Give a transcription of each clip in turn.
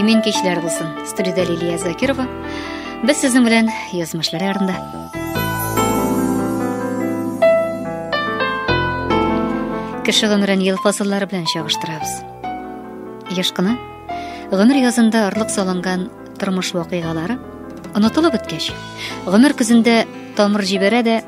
Имин кичләр булсын. Студиядә Лилия Закирова. Без сезнең белән язмышлар ярында. Кеше гомерен ел фасыллары белән чагыштырабыз. Яш кына гомер язында орлык салынган тормыш вакыйгалары онытылып беткәч, гомер көзендә тамыр җибәрә дә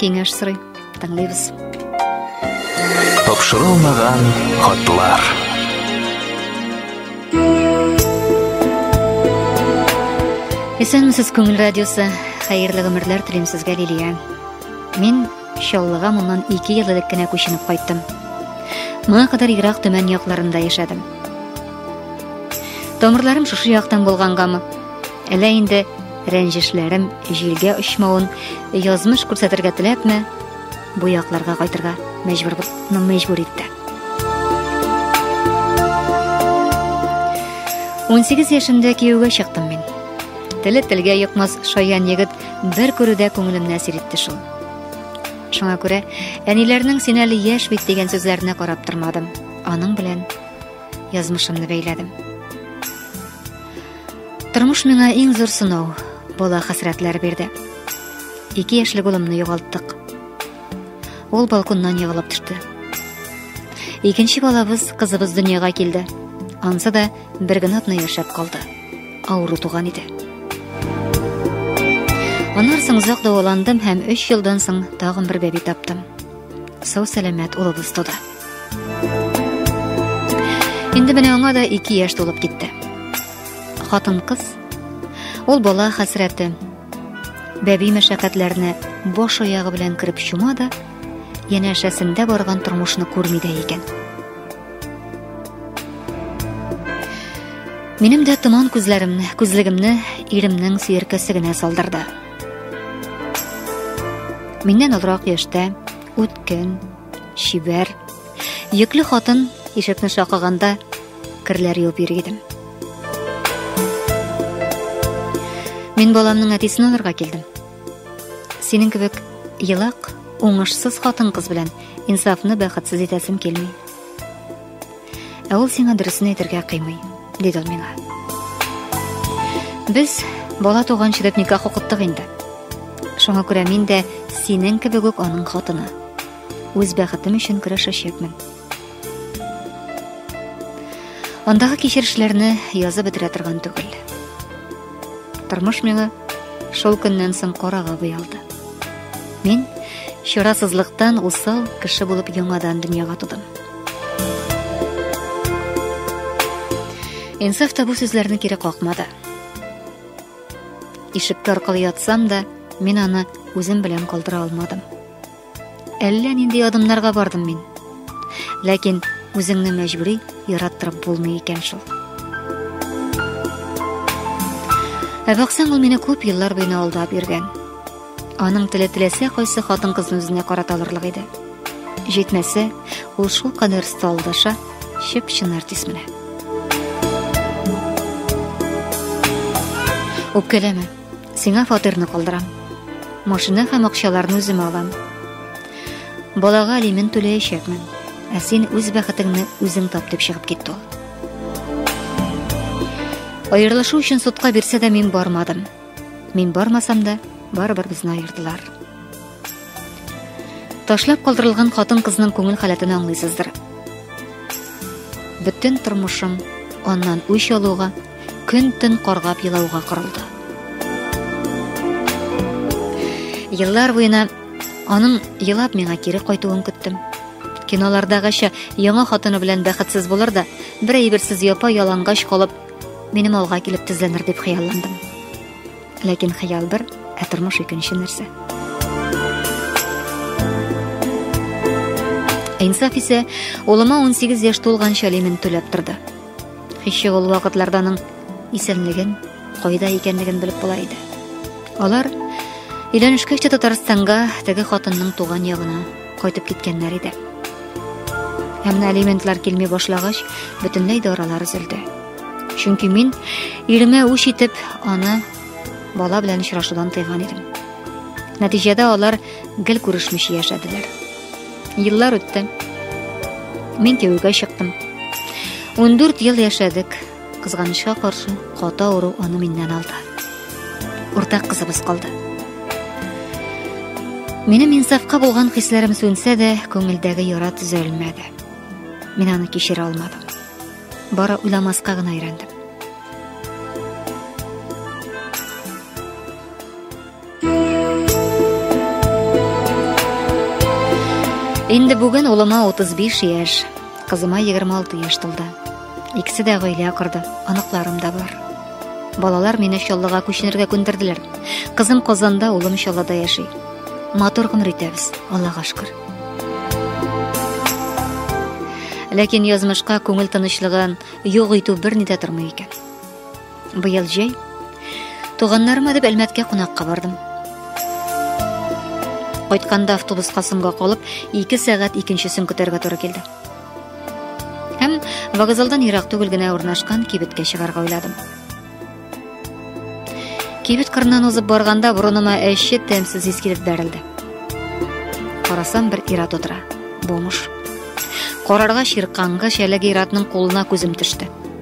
Киңәш сорый. Тыңлыйбыз. Тапшырылмаган хатлар. Исәнмесез, Күңел радиосы. Хәерле гомерләр телим сезгә, Лилия. Мин Чаллыга моннан 2 ел элек кенә күченеп кайттым. Моңа кадәр Ирак төмән якларында яшәдем. Тамырларым шушы яктан булгангамы? Әллә инде Рәнҗешләрем җилгә очмавын язмыш күрсәтергә теләпме, бу якларга кайтырга мәҗбүр булны мәҗбүр итте. 18 яшемдә кияүгә чыктым мин. Теле телгә йокмас шаян егет бер күрүдә күңелемне әсир итте шул. Шуңа күрә әниләрнең син әле яшь бит дигән сүзләренә карап тормадым. Аның белән язмышымны бәйләдем. Тормыш миңа иң зур сынау, бала хәсрәтләр бирде. Ике яшьлек улымны югалттык. Ул балконнан егылып төште. Икенче балабыз, кызыбыз дөньяга килде. Ансы да бер генә атна яшәп калды. Авыру туган иде. Аннан соң озак дәваландым һәм 3 елдан соң тагын бер бәби таптым. Сау-сәламәт улыбыз туды. Инде менә аңа да ике яшь тулып китте. Хатын кыз, ул бала хәсрәте, бәби мәшәкатьләренә баш аягы белән кереп чума да, янәшәсендә барган тормышны күрми дә икән. Минем дә томан күзләремне, күзлегемне иремнең сөеркәсе генә салдырды. Миннән олырак яшьтә үткен, Чибәр. Йөкле хатын ишекне шакыганда керләр юып йөри идем. Мин баламның әтисен алырга килдем. Синең кебек елак, уңышсыз хатын-кыз белән инсафны бәхетсез итәсем килми. Ә ул сиңа дөресен әйтергә кыймый, диде ул миңа. Без бала туганчы дип никах укыттык инде. Шуңа күрә мин дә синең кебек үк аның хатыны. Үз бәхетем өчен көрәшәчәкмен. Андагы кичерешләрне язып бетерә торган түгел. Тормыш миңа шул көннән соң карага буялды. Мин чарасызлыктан усал кеше булып яңадан дөньяга тудым. Инсаф та бу сүзләрне кире какмады. Ишеккә аркылы ятсам да, мин аны үзем белән калдыра алмадым. Әллә нинди адымнарга бардым мин. Ләкин үзеңне мәҗбүри яраттырып булмый икән шул. Ә баксаң, ул мине күп еллар буена алдап йөргән. Аның теле теләсә кайсы хатын-кызны үзенә карата алырлык иде. Җитмәсә, ул шул кадәр сталдаша, чып-чын артист менә. Үпкәләмә. Сиңа фатирны калдырам. Машина һәм акчаларны үзем алам. Балага алимент түләячәкмен. Ә син үз бәхетеңне үзең тап дип чыгып китте ул. Аерылышу өчен судка бирсә дә мин бармадым. Мин бармасам да, барыбер безне айырдылар. Ташлап калдырылган хатын-кызның күңел халәтен аңлыйсыздыр. Бөтен тормышым аннан үч алуга, көн-төн каргап елауга корылды. Еллар буена аның елап миңа кире кайтуын көттем. Кинолардагыча яңа хатыны белән бәхетсез булыр да, бер әйберсез япа ялангач калып, Минем алга килеп тезләнер дип хыялландым. Ләкин хыял бер, ә тормыш икенче нәрсә. Инсаф исә улыма 18 яшь тулганча алимент түләп торды. Һич ул вакытларда аның исәнлеген, кайда икәнлеген белеп була иде. Алар өйләнешкәч тә Татарстанга теге хатынның туган ягына Кайтып киткәннәр иде. Ә менә алиментлар килми башлагач, бөтенләй дә аралар өзелде. Чөнки мин иремә үч итеп, аны бала белән очрашудан тыйган идем. Нәтиҗәдә алар гел күрешмичә яшәделәр. Еллар үтте. Мин кияүгә чыктым. 14 ел яшәдек. Кызганычка каршы, каты авыру аны миннән алды. Уртак кызыбыз калды. Минем инсафка булган хисләрем сүнсә дә, күңелдәге яра төзәлмәде. Мин аны кичерә алмадым. Бара уйламаска гына өйрәндем. Инде бүген улыма 35 яшь, кызыма 26 яшь тулды. Икесе дә гаилә корды, аныкларым да бар. Балалар мине Чаллыга күченергә күндерделәр. Кызым Казанда, улым Чаллыда яши. Матур гомер итәбез, Аллага шөкер. Ләкин язмышка күңел тынычлыгын юк итү берни дә тормый икән. Быел җәй туганнарыма дип Әлмәткә кунакка бардым. Кайтканда автобуска соңга калып, 2 сәгать икенчесен көтәргә туры килде. Һәм вокзалдан ерак түгел генә урнашкан кибеткә чыгарга уйладым. Кибет кырыннан узып барганда борыныма әче тәмсез ис килеп бәрелде. Карасам бер ир-ат утыра. Бомыш. Карарга ширканга шәләге ир-атның кулына күзем төште.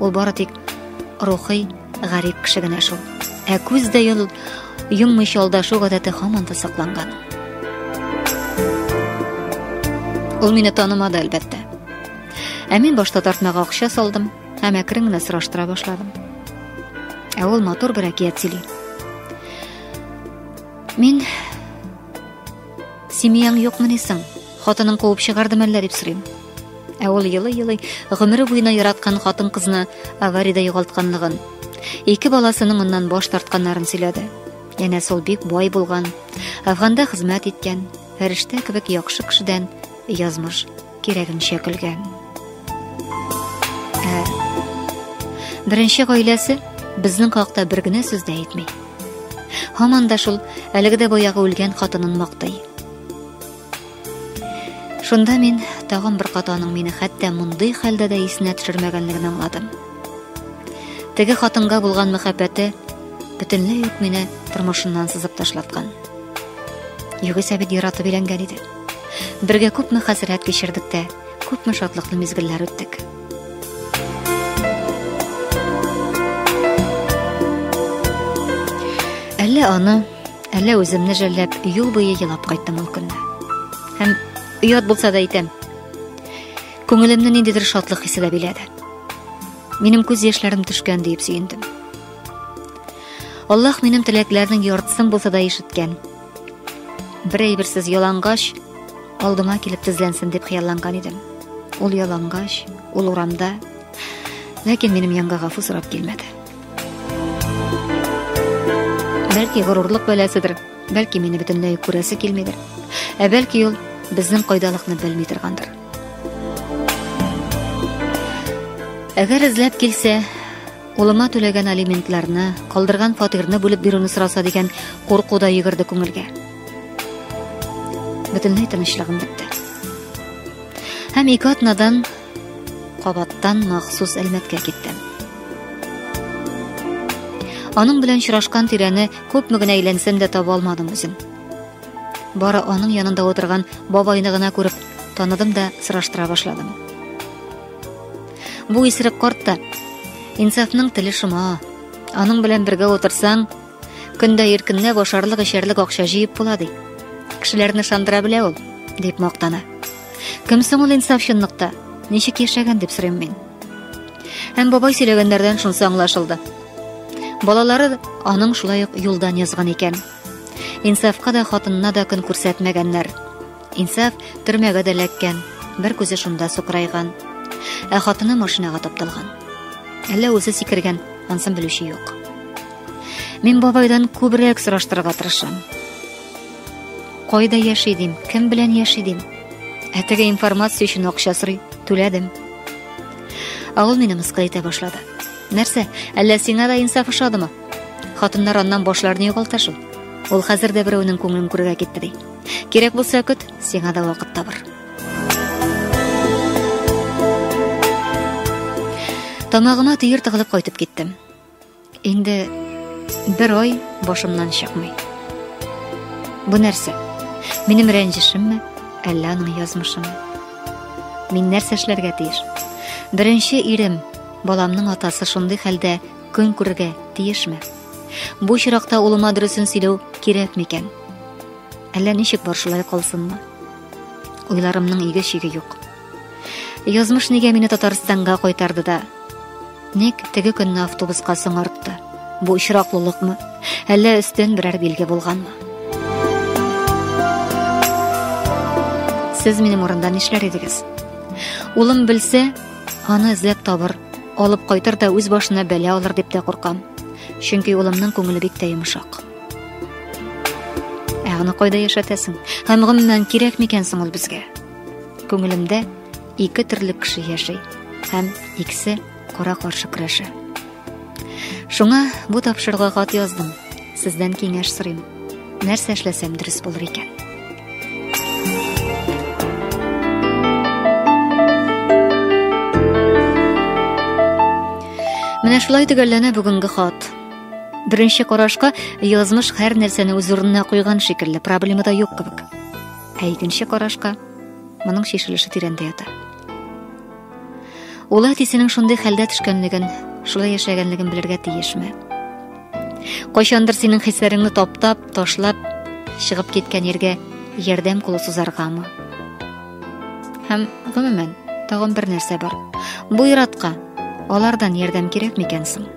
Ул бары тик рухи гарип кеше генә шул. Ә күз дә йол йоммыйча алдашу гадәте һаман да сакланган. Ул мине танымады, әлбәттә. Ә мин башта тартмага акча салдым һәм әкрен генә сораштыра башладым. Ә ул матур бер әкият сөйли. Мин семьяң юкмы ни соң? Хатының куып чыгарды мәллә дип сорыйм. Ә ул елый-елый гомере буена яраткан хатын-кызны авариядә югалтканлыгын, ике баласының оннан баш тартканнарын сөйләде. Янә сол бик бай булган, Афганда хезмәт иткән, фәрештә кебек яхшы кешедән язмыш кирәгенчә көлгән. Ә беренче гаиләсе безнең хакта бер генә сүз дә әйтми. Һаман да шул әлеге дә баягы үлгән хатынын мактый. Шунда мин тагын бер кат аның мине хәтта мондый хәлдә дә исенә төшермәгәнлеген аңладым. Теге хатынга булган мәхәббәте бөтенләй үк мине тормышыннан сызып ташлаткан. Югыйсә бит яратып өйләнгән иде. Бергә күпме хәсрәт кичердек тә, күпме шатлыклы мизгелләр үттек. Әллә аны Әллә үземне жәлләп, юл буе елап кайттым ул көнне. Һәм оят булса да әйтәм, күңелемне ниндидер шатлык хисе дә биләде. Минем күз яшьләрем төшкән диеп сөендем. Аллаһ минем теләкләрнең яртысын булса да ишеткән. Бер әйберсез ялангач алдыма килеп тезләнсен дип хыялланган идем. Ул ялангач, ул урамда, ләкин минем янга гафу сорап килмәде. Бәлки горурлык бәласыдыр, бәлки мине бөтенләй күрәсе килмидер. Ә бәлки ул безнең кайдалыкны белми торгандыр. Әгәр эзләп килсә, улыма түләгән алиментларны, калдырган фатирны бүлеп бирүне сораса дигән курку да йөгерде күңелгә. Бөтенләй тынычлыгым бетте. Һәм ике атнадан Кабаттан махсус Әлмәткә киттем. Аның белән очрашкан тирәне күпме генә әйләнсәм дә таба алмадым үзем. Бары аның янында отырган бабайны гына күреп, таныдым да сораштыра башладым. Бу исерек карт та Инсафның теле шома. Аның белән бергә отырсаң, Көндә иркенләп ашарлык эчәрлек акча җыеп була ди. Кешеләрне шандыра белә ул, дип мактана. Кем соң ул инсаф чынлыкта? Ничек яшәгән дип сорыйм мин. Һәм бабай сөйләгәннәрдән шунсы аңлашылды. Балалары аның шулай ук юлдан язган икән. Инсафка да хатынына да көн күрсәтмәгәннәр. Инсаф төрмәгә дә эләккән, бер күзе шунда сукырайган. Ә хатыны машинага тапталган. Әллә үзе сикергән, ансын белүче юк. Мин бабайдан күбрәк сораштырырга тырышам. Кайда яши дим, кем белән яши дим? Ә теге информация өчен акча сорый, түләдем. Ә ул мине мыскыл итә башлады. Нәрсә, әллә сиңа да инсаф ошадымы? Хатыннар аннан башларын югалта шул. Ул хәзер дә берәүнең күңелен күрергә китте ди. Кирәк булса көт, сиңа да вакыт табыр. Тамагыма төер тыгылып кайтып киттем. Инде бер ай башымнан чыкмый. Бу нәрсә? Минем рәнҗешемме, әллә аның язмышымы? Мин нәрсә эшләргә тиеш? Беренче ирем, баламның атасы шундый хәлдә көн күрергә тиешме? Бу чиракта улыма дөресен сөйләү кирәк микән? Әллә ничек бар шулай калсынмы? Уйларымның иге шиге юк. Язмыш нигә мине Татарстанга кайтарды да? Ник теге көнне автобуска соңартты? Бу очраклылыкмы? Әллә өстен берәр билге булганмы? Сез минем урында нишләр идегез? Улым белсә, аны эзләп табыр, алып кайтыр да үз башына бәла алыр дип тә куркам. Чөнки улымның күңеле бик тә йомшак. Ә аны кайда яшәтәсең? Һәм гомумән кирәк микән соң ул безгә? Күңелемдә ике төрле кеше яши һәм икесе кара каршы көрәшә. Шуңа бу тапшыруга хат яздым. Сездән киңәш сорыйм. Нәрсә эшләсәм дөрес булыр икән? Менә шулай төгәлләнә бүгенге хат. Беренче карашка язмыш һәр нәрсәне үз урынына куйган шикелле, проблема да юк кебек. Ә икенче карашка моның шешелеше тирәндә ята. Ул әтисенең шундый хәлдә төшкәнлеген, шулай яшәгәнлеген белергә тиешме? Кайчандыр синең хисләреңне таптап, ташлап чыгып киткән ергә ярдәм кулы сузаргамы? Һәм гомумән, тагын бер нәрсә бар. Бу иратка алардан ярдәм кирәк микән соң?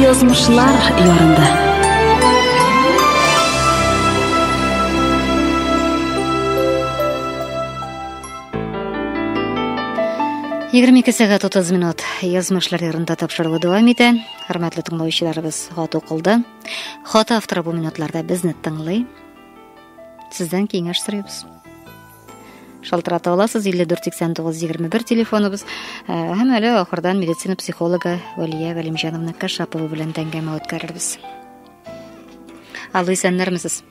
Язмышлар ярында. Егерме ике сәгать утыз минут язмышлар ярында тапшырылу дәвам итә. Хөрмәтле тыңлаучыларыбыз хат укылды. Хат авторы бу минутларда безне тыңлый. Сездән киңәш сорыйбыз. шалтырата аласыз 548921 телефоныбыз һәм әле ахырдан медицина психологы вәлия галимҗановна кашапова белән әңгәмә үткәрербез алло исәннәрмесез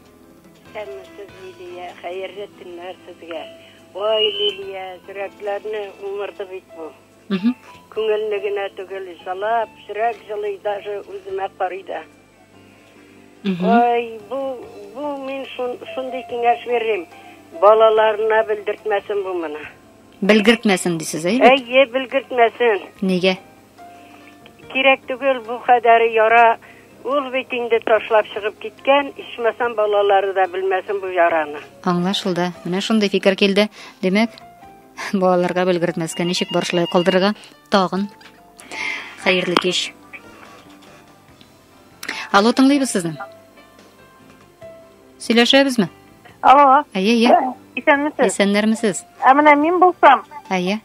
исәнмесез лилия хәерле төннәр сезгә ой лилия йөрәкләрне уңырды бит бу күңелне генә түгел җылап йөрәк җылый даже үземә карый да Ой, бу бу мин шундый киңәш бирим. Балаларына белдертмәсен бу моны. Белгертмәсен дисез, әйе? Әйе, белгертмәсен. Нигә? Кирәк түгел бу хәдәре яра. Ул бит инде ташлап чыгып киткән, ичмасам балалары да белмәсен бу яраны. Аңлашылды. Менә шундый фикер килде. Димәк, балаларга белгертмәскә ничек борышлай калдырырга? Тагын Хәерле кич. Алло, тыңлыйбыз сезне. Сөйләшәбезме? Алло. Әйе, әйе. Исәнмесез? Исәннәрмесез? Ә менә мин булсам. Әйе.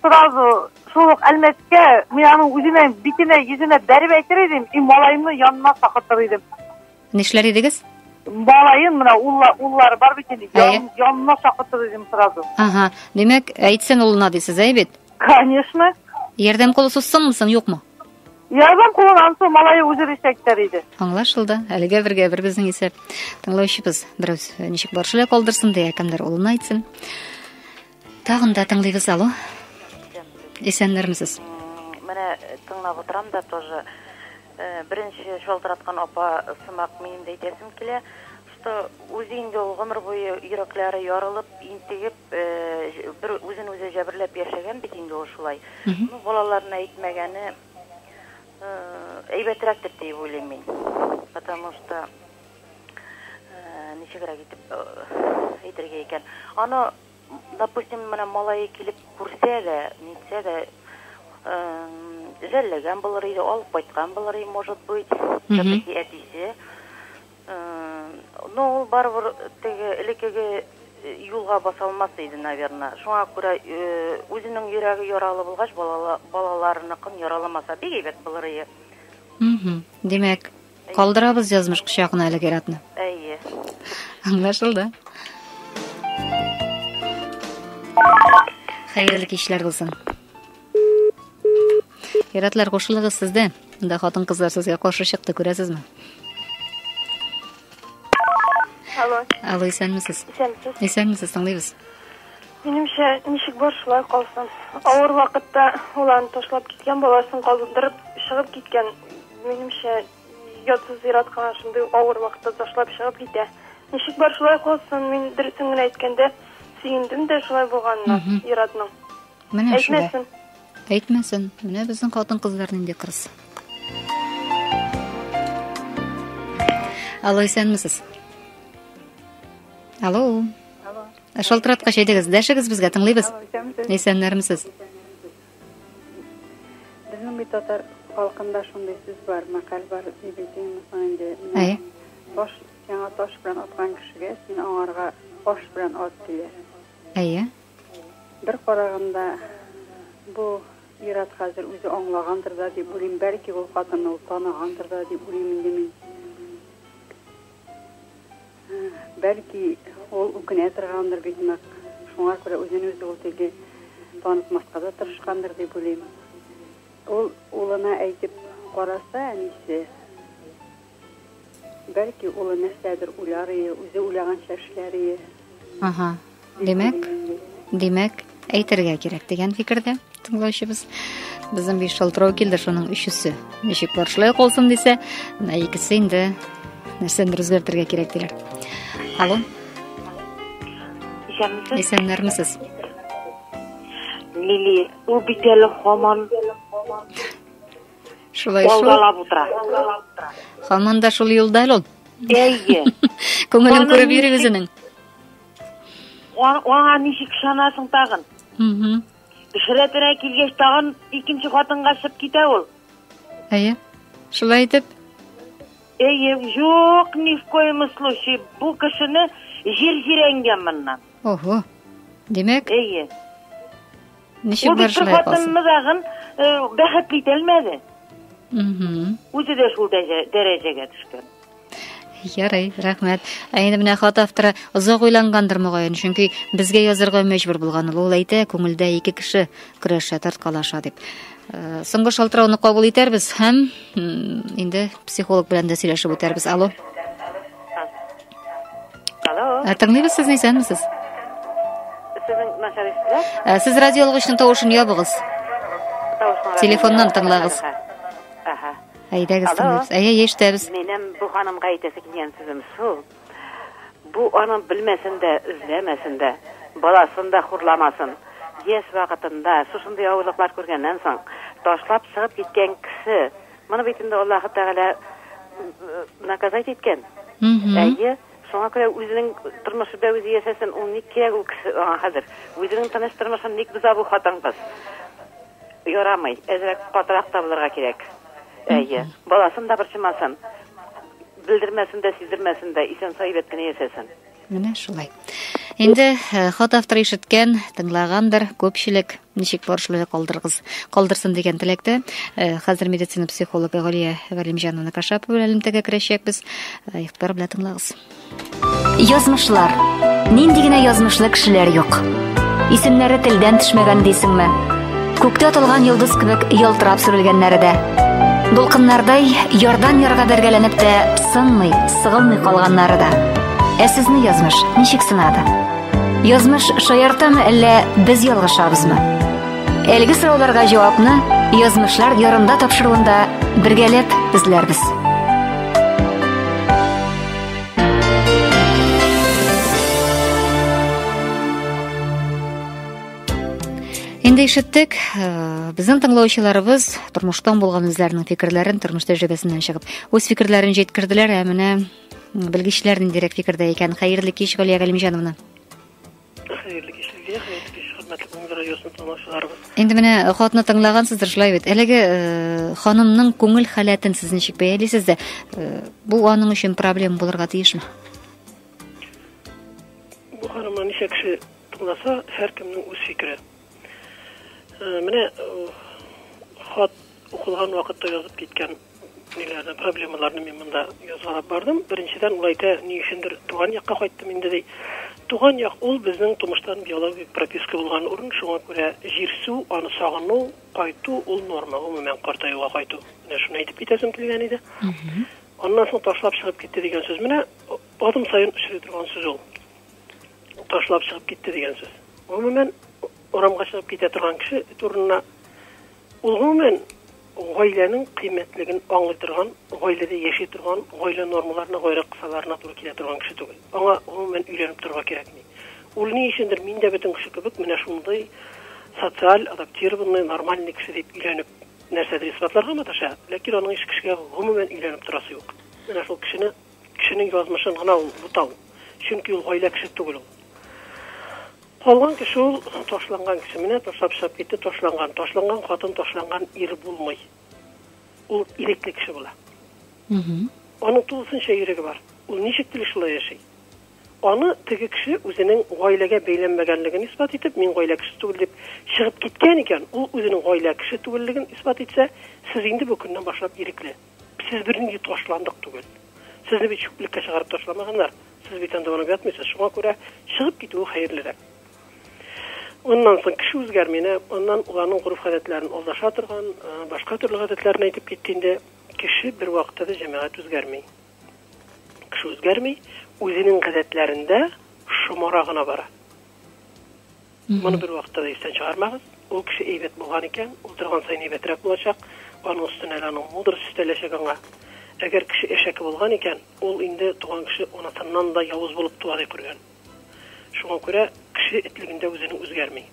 Сразу шул ук Әлмәткә мин аның үзенә битенә, йөзенә бәреп әйтер идем, и малаемны янына сакыртыр идем. Нишләр идегез? Малаем менә улла, уллары бар бит инде. Ян, янына чакыртыр идем сразу. Ага. Димәк, әйтсен улына дисез, әй бит? Конечно. Ярдәм кулы сузсынмы соң, юкмы? Ярдәм кулын ансы малайы үзе ришәк итәр иде. Аңлашылды. Әлегә бергә бер безнең исәп. Тыңлаучыбыз бераз ничек баршыла калдырсын дия, кемдер улына әйтсен. Тагын да тыңлыйбыз алу. Исәннәрмесез. Менә тыңлап утырам да тоже. Э, беренче шалтыраткан апа сымак минем дә әйтәсем килә, что үзе инде ул гомер буе йөрәкләре ярылып, интегеп, э, бер үзен үзе җәберләп яшәгән бит инде ул шулай. Ну, балаларына әйтмәгәне э, әйбәтрәктер дип уйлыйм мин. Потому что Ничегрәк итеп әйтергә икән? Аны, допустим, менә малае килеп күрсә дә, нитсә дә, жәлләгән булыр иде, алып кайткан булыр иде, может быть, тәки әтисе. Но ул барыбер теге элеккеге юлга баса алмас иде, наверное. Шуңа күрә үзенең йөрәге яралы булгач, балаларыныкын яраламаса, бик әйбәт булыр иде. Димәк, Калдырабыз язмыш кочагына әлеге иратны. Әйе. Аңлашылды. Хәерле кичләр булсын. Иратлар кушылыгыз сездә. Монда хатын-кызлар сезгә каршы чыкты, күрәсезме? Алло. Алло, исәнмесез? Исәнмесез. Исәнмесез, тыңлыйбыз. Минемчә, ничек бар шулай калсын. Авыр вакытта улан ташлап киткән баласын калдырып чыгып киткән Минемчә, ятсыз зиратка шундый авыр вакытта ташлап чыгып китә. Ничек бар шулай калсын, мин дөресен генә әйткәндә, сөендем дә шулай булганына зиратның. Менә шулай. Әйтмәсен. Әйтмәсен. Менә безнең хатын-кызлар нинди кырыс. Алло, исәнмесез. Алло. Алло. Шалтыраткач әйдегез, дәшегез безгә, тыңлыйбыз. Исәннәрмесез? Безнең бит татар халкында шундый сүз бар, мәкаль бар, ни белсен мисаң инде. Әй. Таш сиңа таш белән аткан кешегә син аңарга аш белән ат диле. Әйе. Бер караганда бу ират хәзер үзе аңлагандыр да дип уйлыйм, бәлки ул хатынны ул танагандыр да дип уйлыйм инде мин. Бәлки, ул үкенә торгандыр бик нык, шуңа күрә үзен-үзе ул тикле танытмаска да тырышкандыр дип уйлыйм. Ул улына әйтеп караса, әнисе, бәлки, улы нәрсәдер уйлар ие, үзе уйлаганча эшләр ие. Аһа. Димәк, димәк, әйтергә кирәк дигән фикердә тыңлаучыбыз. Безнең биш шалтырау килде, шуның өчесе. Ничек бар шулай калсын дисә, менә икесе инде нәрсәдер үзгәртергә кирәк диләр. Алло. Исәнмесез. Исәнмесез. Лили, ул бит әле хаман Шулай шул. Ялгалап утыра. Хаман да шул юлда әле ул. Әйе. Күңелен күреп йөри үзенең. Аңа ничек ышанасың тагын? Шрәтерә килгәч тагын икенче хатынга чыгып китә ул. Әйе. Шулай итеп. Әйе, юк, ни в коем случае. Бу кешене җир җирәнгән моннан. Ого. Димәк? Әйе. Ничек бер хатынны тагын э, бәхетле итә алмады. Үзе дә шул дәрәҗәгә төшкән. Ярый, рәхмәт. Ә инде менә хат авторы озак уйлангандыр мөгаен, чөнки безгә язырга мәҗбүр булган ул. Ул әйтә, күңелдә ике кеше көрәшә, тарткалаша дип. Э, соңгы шалтырауны кабул итәрбез һәм инде психолог белән дә сөйләшеп үтәрбез. Алло. Алло. Ә, Тыңлыйбыз сезне, исәнмесез? Сезнең мәсьәләсезгә Ә, Сез радио алгычның тавышын ябыгыз. тавышмаган. Телефоннан тыңлагыз. Аха. Әйдәгез, Алло. тыңлыйбыз. Әйе, әйе, ишетәбез. Минем бу ханымга әйтәсе килгән сүзем шул. Бу аның белмәсен дә, үзләмәсен дә, баласын да хурламасын. Яшь вакытында шушындый авырлыклар күргәннән соң, ташлап чыгып киткән кеше Моны бит инде Аллаһы Тәгалә наказать иткән. Әйе, шуңа күрә үзенең тормышы да үзе яшәсен, ул ник кирәк ул кеше аңа хәзер? Үзенең тыныч тормышын ник боза бу хатын-кыз? Ярамый, әзрәк катырак та булырга кирәк. Әйе, баласын да борчымасын, белдермәсен дә, сиздермәсен дә, исән сау әйбәт кенә яшәсен. Менә шулай. Инде э, хат авторы ишеткән, тыңлагандыр, күпчелек ничек борышлы калдыргыз, калдырсын дигән теләктә. Э, хәзер медицина психологы Галия Галимҗановна Кашапова белән элемтәгә керәчәкбез. Э, игътибар белән тыңлагыз. Язмышлар. Нинди генә язмышлы кешеләр юк. Исемнәре телдән төшмәгән дисеңме? Күктә атылган йолдыз кебек ялтырап сүрелгәннәре дә. Дулкыннардай ярдан ярга бәргәләнеп тә сынмый, сыгылмый калганнары да. Ә сезне язмыш ничек сынады? Язмыш шаяртамы әллә без ялгышабызмы? Әлеге сорауларга җавапны язмышлар ярында тапшыруында бергәләп эзләрбез. Инде ишеттек, э, безнең тыңлаучыларыбыз тормыштан булган үзләренең фикерләрен тормыш тәҗрибәсеннән чыгып, үз фикерләрен җиткерделәр, ә менә белгечләр ниндирәк фикердә икән. Хәерле кич, Галия Галимҗановна. Хәерле кич, Лилия, хәерле кич, хөрмәтле Күңел радиосын тыңлаучыларыбыз. Инде менә э, хатны тыңлагансыздыр, шулай бит. Әлеге э, ханымның күңел халәтен сез ничек бәялисез дә? Бу аның өчен проблема булырга тиешме? Бу ханымның ничә кеше Булмаса, һәркемнең үз фикере. Менә хат укылган вакытта язып киткән ниләрне, проблемаларны мин монда язгалап бардым. Беренчедән ул әйтә, ни өчендер туган якка кайттым инде ди. Туган як ул безнең тумыштан биологик прописка булган урын, шуңа күрә җир су, аны сагыну, кайту ул норма, гомумән картаюга кайту. Менә шуны әйтеп китәсем килгән иде. Аннан соң ташлап чыгып китте дигән сүз. Менә адым саен очрый торган сүз ул. ташлап чыгып китте дигән сүз. Гомумән, урамга чыгып китә торган кеше турында ул гомумән гаиләнең кыйммәтлеген аңлый торган, гаиләдә яши торган, гаилә нормаларына, гайре кысаларына туры килә торган кеше түгел. Аңа гомумән өйләнеп торырга кирәкми. Ул ни өчендер мин дә бөтен кеше кебек менә шундый социаль, адаптированный, нормальный кеше дип өйләнеп нәрсәдер исбатларга маташа, ләкин аның һич кешегә гомумән өйләнеп торасы юк. Менә шул кешене Кешенең язмышын гына ул бутау, чөнки ул гаилә кеше түгел ул. Калган кеше ул ташланган кеше. Менә ташлап чыгып китте, ташланган. Ташланган хатын, ташланган ир булмый. Ул ирекле кеше була. Аның тулысынча иреге бар. Ул ничек тели шулай яши. Аны теге кеше үзенең гаиләгә бәйләнмәгәнлеген исбат итеп, мин гаилә кеше түгел дип чыгып киткән икән, ул үзенең гаилә кеше түгеллеген исбат итсә, сез инде бу көннән башлап ирекле. Сез бернинди ташландык түгел. Сезне бит чүплеккә чыгарып ташламаганнар. Сез бит анда барып ятмыйсыз. Шуңа күрә чыгып китүе хәерлерәк. Аннан соң кеше үзгәрми, әнә аннан уларның гореф-гадәтләрен алдаша торган, башка төрле гадәтләрен әйтеп китте инде. Кеше бер вакытта да җәмәгать үзгәрми. Кеше үзгәрми, үзенең гадәтләрендә шомара гына бара. Моны бервакытта да истән чыгармагыз. Ул кеше әйбәт булган икән, ул торган саен әйбәтрәк булачак, аның өстенә әле аның мудрость өстәләчәк аңа. Әгәр кеше әшәке булган икән, ул инде туган кеше анасыннан да явыз булып туа дип күргән. Шуңа күрә кеше этлегендә үзенең үзгәрми.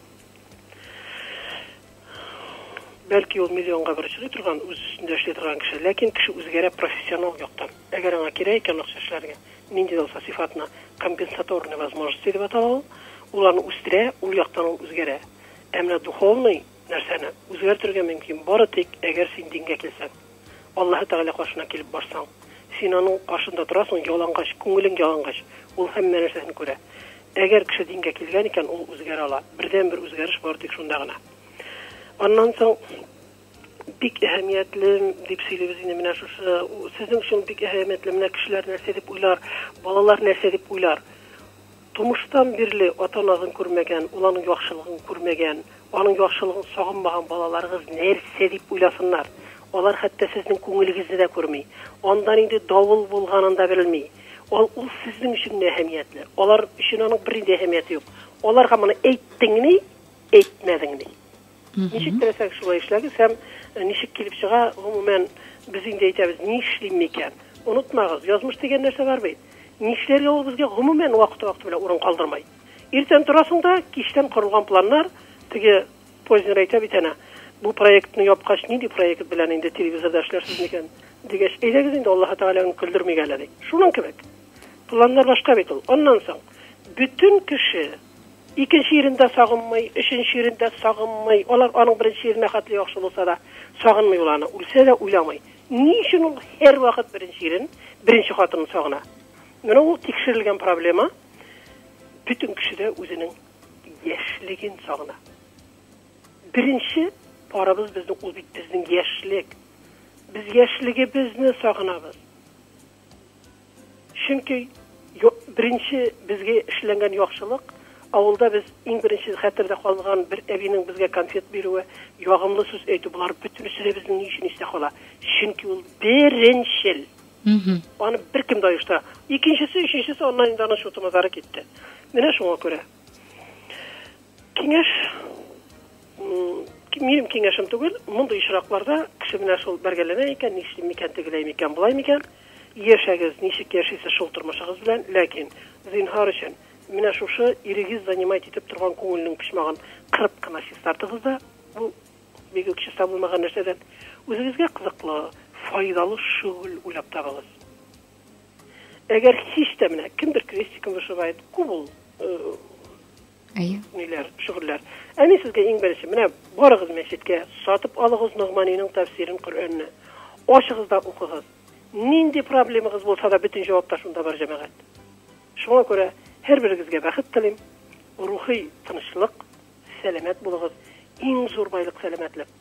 Бәлки ул миллионга бер чыгый торган, үз өстендә эшли торган кеше, ләкин кеше үзгәрә профессионал яктан. Әгәр аңа кирәк икән акча эшләргә, нинди дә булса сыйфатына компенсаторные возможности дип атала ул, ул аны үстерә, ул яктан ул үзгәрә. Ә менә духовный нәрсәне үзгәртергә мөмкин, бары тик әгәр син дингә килсәң. Аллаһы Тәгалә каршына килеп барсаң, син аның каршында торасың, ялангач, күңелең ялангач, ул һәммә нәрсәсен күрә. Әгәр кеше дингә килгән икән, ул үзгәрә ала. Бердәнбер үзгәреш бар тик шунда гына. Аннан соң бик әһәмиятле дип сөйлибез инде менә шушы. Сезнең өчен бик әһәмиятле менә кешеләр нәрсә дип уйлар, балалар нәрсә дип уйлар. Тумыштан бирле ата-анагызны күрмәгән, ул аның яхшылыгын күрмәгән, аның яхшылыгын сагынмаган балаларыгыз нәрсә дип уйласыннар? Алар хәтта сезнең күңелегезне дә күрми. Анда нинди давыл булганын да белми. Ал ул сезнең өчен генә әһәмиятле. Алар өчен аның бернинди әһәмияте юк. Аларга моны әйттеңни, әйтмәдеңни. Ничек теләсәгез, шулай эшләгез һәм э, ничек килеп чыга, гомумән, без инде әйтәбез, ни эшлим микән? Онытмагыз, язмыш дигән нәрсә бар бит. Ни эшләргә ул безгә гомумән вакыты-вакыты белән урын калдырмай. Иртән торасың да, кичтән корылган планнар, теге Познер әйтә бит әнә, бу проектны япкач, нинди проект белән инде телевизорда эшләрсез микән? Дигәч, әйдәгез инде Аллаһы Тәгаләнең көлдермик әле, ди. Шуның кебек. Планнар башка бит ул. Аннан соң, бөтен кеше Икенче ирен дә сагынмый, өченче ирен дә сагынмый. Алар аның беренче иренә хәтле яхшы булса да, сагынмый ул аны, үлсә дә уйламый. Ни өчен ул һәрвакыт беренче ирен, беренче хатынын сагына? Менә ул тикшерелгән проблема. Бөтен кеше дә үзенең яшьлеген сагына. Беренче парыбыз безнең ул бит безнең яшьлек. Без яшьлегебезне сагынабыз. Чөнки беренче безгә эшләнгән яхшылык, авылда без иң беренче хәтердә калган бер әбинең безгә конфет бирүе, ягымлы сүз әйтү, болар бөтенесе дә безнең ни өчен истә кала? Чөнки ул беренчел. Аны беркем дә оештыра. Икенчесе, өченчесе аннан инде аның чутымазары китте. Менә шуңа күрә. Киңәш минем киңәшем түгел, мондый очракларда кеше менә шул бәргәләнә икән, нишлим микән, тегеләй микән, болай микән? Яшәгез, ничек яшисез шул тормышыгыз белән, ләкин зинһар өчен менә шушы ирегез занимать итеп торган күңелнең почмагын кырып кына чистартыгыз да, бу бик үк чиста булмаган нәрсәдән үзегезгә кызыклы, файдалы шөгыль уйлап табыгыз. Әгәр һич тә менә кемдер крестиком вышивает, күп ул Әйе. Ниләр, шөгыльләр. Ә мин сезгә иң беренче, менә барыгыз мәчеткә, сатып алыгыз Ногманиның тәфсирен, Коръәнне. Ачыгыз да укыгыз. Нинди проблемагыз булса да бөтен җавап та шунда бар, җәмәгать. Шуңа күрә һәрберегезгә бәхет телим. Рухи тынычлык, сәламәт булыгыз. Иң зур байлык сәламәтлек.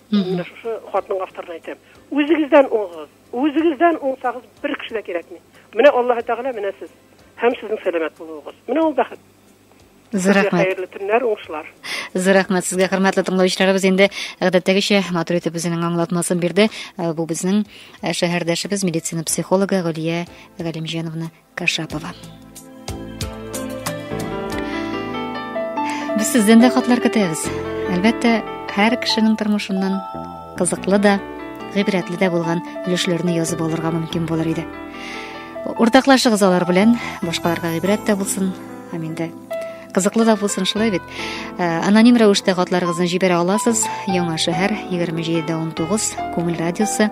Мин менә шушы хатның авторына әйтәм, үзегездән уңыгыз, үзегездән уңсагыз, бер кеше дә кирәкми. Менә Аллаһы Тәгалә, менә сез һәм сезнең сәламәт булуыгыз. Менә ул бәхет. Зур рәхмәт. Хәерле төннәр, уңышлар. Зур рәхмәт сезгә, хөрмәтле тыңлаучыларыбыз. Инде гадәттәгечә матур итеп үзенең аңлатмасын бирде. Э, бу безнең э, шәһәрдәшебез, медицина психологы Гөлия Галимҗановна Кашапова. Без сездән дә хатлар көтәбез. Әлбәттә, һәр кешенең тормышыннан кызыклы да, гыйбрәтле дә булган өлешләрне язып алырга мөмкин булыр иде. Уртаклашыгыз алар белән, башкаларга гыйбрәт тә булсын. Һәм инде кызыклы да булсын шулай бит. Э, аноним рәвештә хатларыгызны җибәрә аласыз. Яңа шәһәр 2719 Күңел радиосы